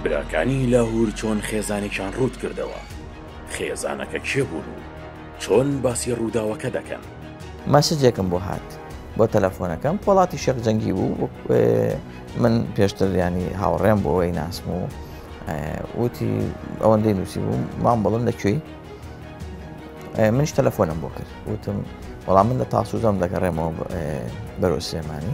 براکانی لاهور چۆن خێزانێکیان ڕووت کردەوە؟ خێزانەکە کێ بوون و چۆن باسی ڕووداوەکە دەکەن؟ مەسجێکم بۆ هات بۆ تەلەفۆنەکەم پۆڵاتی شێخ جەنگی بوو من پێشتر ینی هاوڕێم بۆ ئەوەی ناسم و وتی ئەوەندەی نووسی بوو مام بڵم لە کوێی منش تەلەفۆنم بۆ کرد وتم وەڵام من لە تاسوزەم دەگەڕێمەوە بەرەو سلێمانی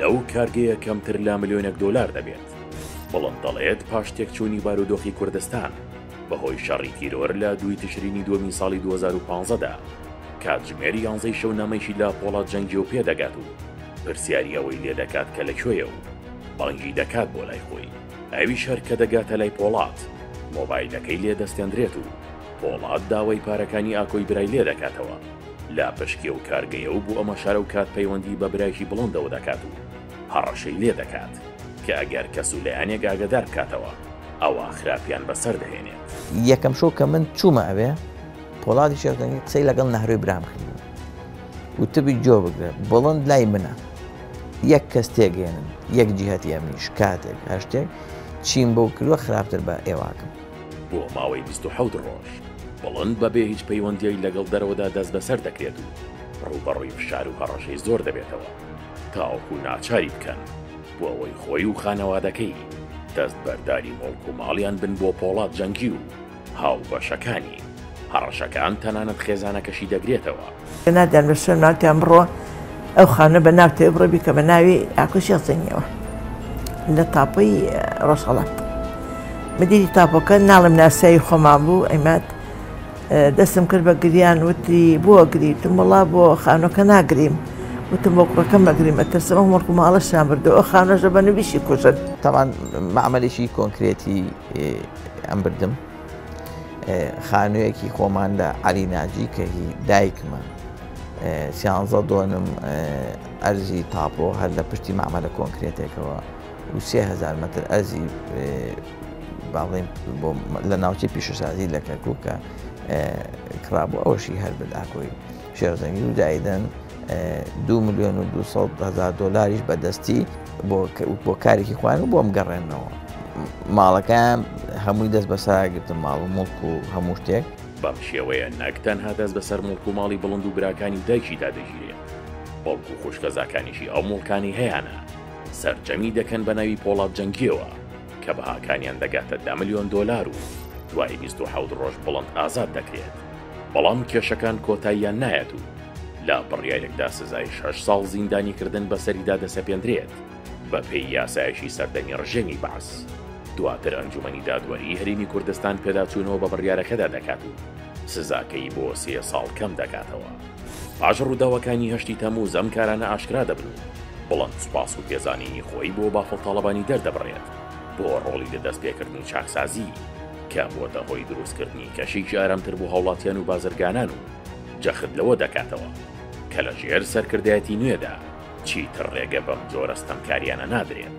لەو کارگەیە کەمتر لە ملیۆنێک دۆلار دەبێت. بڵند دەڵێت پاش تێکچوونی بارودۆخی کوردستان بەهۆی شەڕی تیرۆر لە دووی تشرینی دووەمی ساڵی دوو هەزار و پازدە دا، کاتژمێر یانزەی شەو نامەیەکی لە پۆڵا جەنگیۆ پێدەگات و پرسیاری ئەوەی لێدەکات کە لە کوێیە و بانگی دەکات بۆ لای خۆی. ئەویش هەر کە دەگاتە لای پۆڵات، مۆبایلەکەی لێدەستێندرێت و پۆڵات داوای پارەکانی ئاکۆی برای لێدەکاتەوە. لە پشکی ئەو کارگەیە و بۆ ئەمە شارەوکات پەیوەندی بە برایکی بڵۆندەوە دەکات و هەڕەشەی لێ دەکات کە ئەگەر کەس و لایەنێک ئاگەدار بکاتەوە ئەوا خراپیان بەسەر دەهێنێت. یەکەم شەو کە من چوومە ئەوێ، پۆڵادی شێخ جەنگی قسەی لەگەڵ نەهرۆی برام کردبوو. وتبووی گوێ بگرە، بڵۆند لای منە. یەک کەس تێگەیەنن، یەک جیهەتی ئەمنی شکاتێک، هەر شتێک، چیم بۆ کردووە خراپتر بە ئێوە ئەکەم. بۆ ماوەی بیست و حەوت ڕۆژ بڵند بە بێ هیچ پەیوەندیی لەگەڵ دەرەوەدا دەست بەسەر دەکرێت و ڕووبەڕووی فشار و هەڕەشەی زۆر دەبێتەوە تاوەکو ناچاری بکەن بۆ ئەوەی خۆی و خانەوادەکەی دەست بەرداری موڵک و ماڵیان بن بۆ پۆڵا جەنگی و هاوبەشەکانی. هەڕەشەکان تەنانەت خێزانەکەشی دەگرێتەوە. نادیار بەشەر ماکیان بڕۆ ئەو خانە بە ناوتەوێ بڕۆ بیکە بە ناوی ئاکۆ شێخ زەنگیەوە لە تاپۆی ڕۆژهەڵات مدیری تاپۆکە ناڵم ناسایی خۆمان بوو ئەمات دەستم کرد بە گریان وتی بۆ گریتم وڵا بۆ خانۆکە ناگریم وتم بۆ کوڕەکەم مەگریم ئەترسم ئەو مڵکو ماڵەشان بردو ئەو خانۆژە بە نویشی کوژن تاوان معملێکی کۆنکرێتی ئەم بردم خانوویەکی خۆمان لە عەلی ناجی کە هی دایکمە سیانزە دۆنم ئەرزی تاپۆ هەر لە پشتی مامەلە کۆنکرێتێکەوە و سهزار متر ئەرزی باڵێن لە ناوچەی پیشەسازی لە کەرککە کرابوو ئەوشی هەر بداکۆی شێرزەنگی و دایدەن دوو ملیۆن و دوو سەد هەزار دۆلاریش بەدەستی بۆ کارێکی خۆیان و بۆم گەڕێنەوە ماڵەکەیان هەمووی دەست بەسەراگرتم ماڵ و مڵک و هەموو شتێک بەم شێوەیە نەک تەنها دەست بەسەر مڵک و ماڵی بڵند و براکانی دایکیدا دەگیرێت بەڵکو و خوشکەزاکانیشی ئەو مڵکانەی هەیانە سەرجەمی دەکەن بە ناوی پۆڵات جەنگیەوە کە بەهاکانیان دەگاتە دە ملیۆن دۆلار و دوای بیست و حەوت ڕۆژ بڵند ئازاد دەکرێت. بەڵام کێشەکان کۆتاییان نایەت و لە بڕیارێکدا سزای شەش ساڵ زیندانیکردن بەسەریدا دەسەپێندرێت بەپێی یاسایەکی سەردەمی ڕژێمی بەعس. دواتر ئەنجومەنی دادوەریی هەرێمی کوردستان پێداچوونەوە بە بڕیارەکەدا دەکات و سزاکەی بۆ سێ ساڵ کەم دەکاتەوە. پاش ڕووداوەکانی هەشتی تەمووز ئەم کارانە ئاشکرا دەبن و بڵند سوپاس و پێزانینی خۆی بۆ بافڵ تاڵەبانی دەردەبڕێت بۆ ڕۆڵی لە دەستپێکردنی چاکسازی. کە بووەتە هۆی دروستکردنی کەشێکی ئارامتر بۆ هاوڵاتیان و بازرگانان و جەخت لەوە دەکاتەوە کە لە ژێر سەرکردایەتی نوێدا چیتر ڕێگە بەم جۆرە ستەمکاریانە نادرێت.